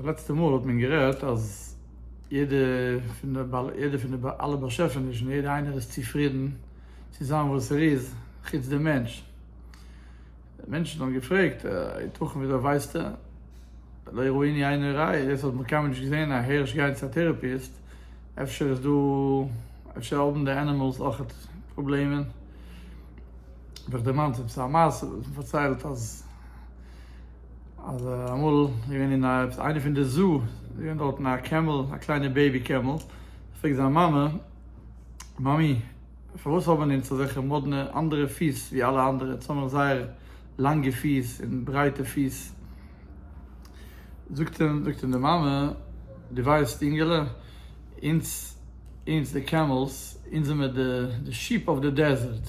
די לעצטע מאל האט מען גערעדט אז יעדע פון די בעל יעדע פון די בעל אלע באשעפענישן יעדע איינער איז צופרידן צו זיין וואס ער איז חוץ די מענטש. מענטשן האבן געפרעגט היתכן ווי אזוי ווייסטו לא יראה עיני עיני רעה יעצט האט נאך קיינמאל נישט געזען א הערש גיין צו א טערעפיסט אפשר איז דא אפשר האבן די ענימעלס אויך פראבלעמען האב איך דערמאנט עפעס א מעשה וואס מען פארציילט אז. אז אמאל איז געווען אין א עפעס איינע פון די זו'ס איז געווען דארטן א קעמל א קליינע בעיבי קעמל פרעגט זיין מאמע מאמי פארוואס האבן אונז אזעלכע מאדנע אנדערע פיס ווי אלע אנדערע אונז האבן זייער לאנגע פיס און ברייטע פיס זאגט אים זאגט אים די מאמע דו ווייסט אינגעלע אונז אונז די קעמלס אונז זעמער די די שיעפ אויף די דעזערט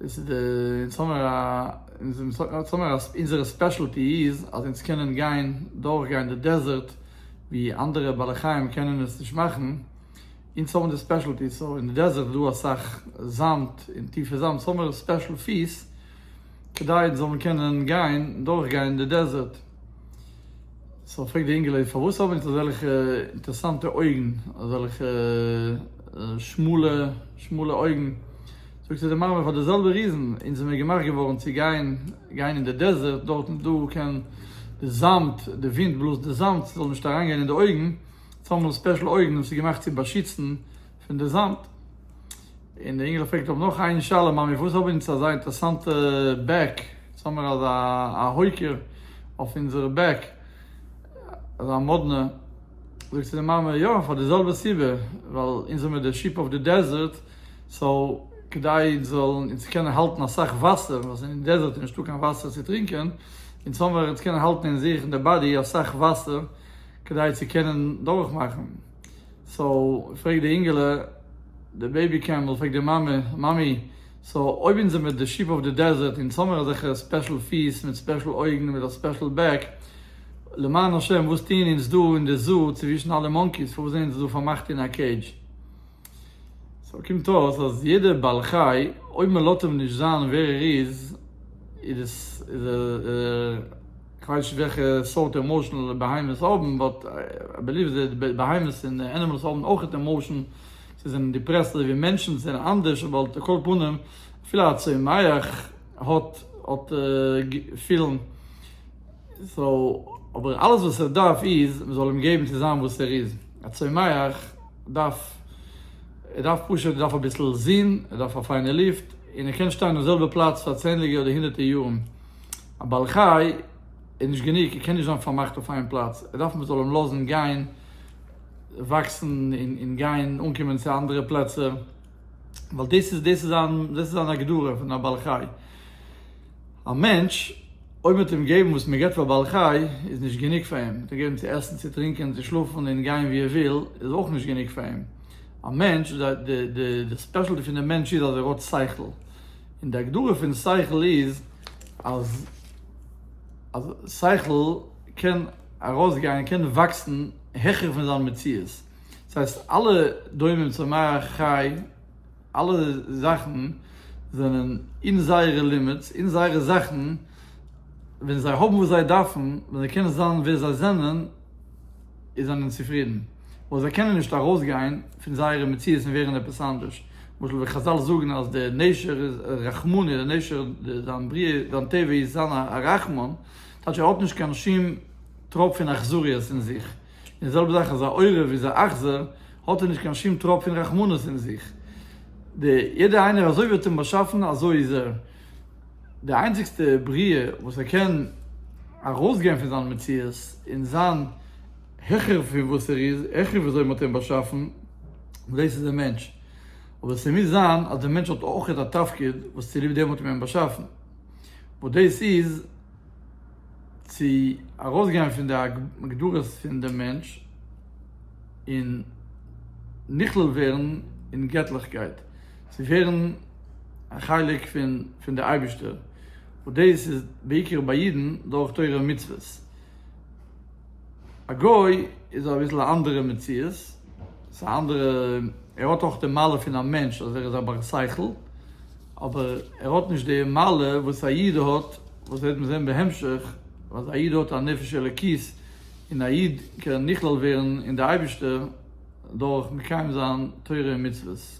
דאס איז די אין סאמער א אין סאמער א אונזערע ספעשעלטי איז אז אונז קענען גיין דורך גיין די דעזערט ווי אנדערע בעלי חיים קענען עס נישט מאכן אונז האבן די ספעשעלטי סאו אין די דעזערט איז דא אסאך זאמד און טיפע זאמד סאו האמער ספעשעל פיס כדי אונז זאלן קענען גיין דורך גיין די דעזערט סאו פרעגט די אינגעלייט פארוואס האבן אונז אזעלכע אינטערסאנטע אויגן אזעלכע שמאלע שמאלע אויגן. זאגט צו די מאמע פאר די זעלבע ריזן, אונז זעמיר געמאכט געווארן צו גיין גיין אין די דעזערט, דארט איז דא קען די זאמד, די ווינט בלאזט די זאמד, ס'זאל נישט אריינגיין אין די אויגן, אונז האבן ספעשל אויגן און ס'איז געמאכט צו באשיצן פון די זאמד. און די אינגעלע פרעגט אויף נאך איין שאלה, מאמי פארוואס האבן אונז אזא אינטערסאנטע בעק, אונז האמיר אזא א הויקער אויף אונזערע בעק, אזא מאדנע, זאגט צו די מאמע, יא פאר די זעלבע סיבה, ווייל אונז זעמיר די שיפ אויף די דעזערט, סאו כדי זאלן אונז קענען האלטן אסאך וואסער, ווייל ס'איז אין דעזערט און נישטא קיין וואסער צו טרינקען, אונז האבן מיר אונז קענען האלטן אין זיך אין די באדי אסאך וואסער כדי צו קענען דורך מאכן, סאו פרעגט די אינגעלע די בעיבי קעמל פרעגט די מאמע, מאמי סאו אויב אונז זעמיר די שיעפ אוו די דעזערט אונז האמיר אזעלכע ספעשל פיס מיט ספעשל אויגן מיט א ספעשל בעק, למען השם וואס טוען אונז דא אין די זאו צווישן אלע מאנקיס פארוואס זענען אונז דא פארמאכט אין א קעידזש? סאו קומט אויס אז יעדער בעל חי אויב מען לאט אים נישט זיין ווער ער איז, איז ער כ'ווייס נישט וועלכע סארט עמאושען בהמות האבן, באט איי בעליוו דעט די בהמות און ענימעלס האבן אויכעט עמאושען, זיי זענען דיפרעסט אזוי ווי מענטשן, זיי זענען אנדערש אבער על כל פנים אפילו א צומח האט האט געפילן, סאו אבער אלעס וואס ער דארף איז מען זאל אים געבן צו זיין וואס ער איז, א צומח. ער דארף ער דארף פשוט ער דארף אביסל זון ער דארף א פיינע לופט און ער קען שטיין אויף זעלבע פלאץ פאר צענדליגע אדער הונדערטע יארן א בעל חי איז נישט גענוג ער קען נישט זיין פארמאכט אויף איין פלאץ ער דארף מען זאל אים לאזן גיין וואקסן און גיין אנקומען צו אנדערע פלעצער. ווייל דאס איז דאס איז אן דאס איז אן הגדרה פון א בעל חי. א מענטש אויב מען וועט אים געבן וואס מען גיבט פאר בעל חי איז נישט גענוג פאר אים, צו געבן צו עסן צו טרינקען צו שלאפן און גיין ווי ער וויל איז אויך נישט גענוג פאר אים. א מענטש די די די די ספעשעלטי פון די מענטש איז אז ער האט שכל, און די הגדרה פון שכל איז אז אז שכל קען ארויסגיין קען וואקסן העכער פון זיין מציאות. דאס הייסט אלע דומם צמח חי אלע זאכן זענען אין זייערע לימיטס אין זייערע זאכן ווען זיי האבן וואס זיי דארפן ווען זיי קענען זיין ווער זיי זענען איז זענען צופרידן אבער זיי קענען נישט ארויסגיין פון זייערע מציאות און ווערן עפעס אנדערש למשל ווען חזל זאגן אז דער נשר איז א רחמני דער נשר זיין בריאה זיין טבע איז זיין א רחמן טייטש ער האט נישט קיין שום טראפ פון אכזריות אין זיך. די זעלבע זאך אז א עורב איז א אכזר, האט ער נישט קיין שום טראפ פון רחמנות אין זיך. די יעדע איינער אזוי ווי האט אים באשאפן אזוי איז ער. די איינציגסטע בריאה וואס ער קען ארויס גיין פון זיין מציאות און זיין העכער פון וואס ער איז, העכער ווי אזוי מען האט אים באשאפן, דאס איז דער מענטש. אבער ס'מוז זיין אז דער מענטש האט אויך א תפקיד וואס צוליב דעם האט מען אים באשאפן. וואס דאס איז. צו ארויסגיין פון די הגדרות פון דעם מענטש און נכלל ווערן אין געטליכקייט, צו ווערן א חלק פון די אייבערשטער, וואס דאס איז בעיקר ביי אידן דורך תורה און מצוות. א גוי איז אביסל א אנדערע מציאות, ס'איז א אנדערע, ער האט אויך די מעלה פון א מענטש אז ער איז א בר שכל, אבער ער האט נישט די מעלה וואס א איד האט, וואס וועט מען זען בהמשך, אז א איד האט א נפש אלוקית, און א איד קען נכלל ווערן אין די אייבישטער דורך מקיים זיין תורה און מצוות.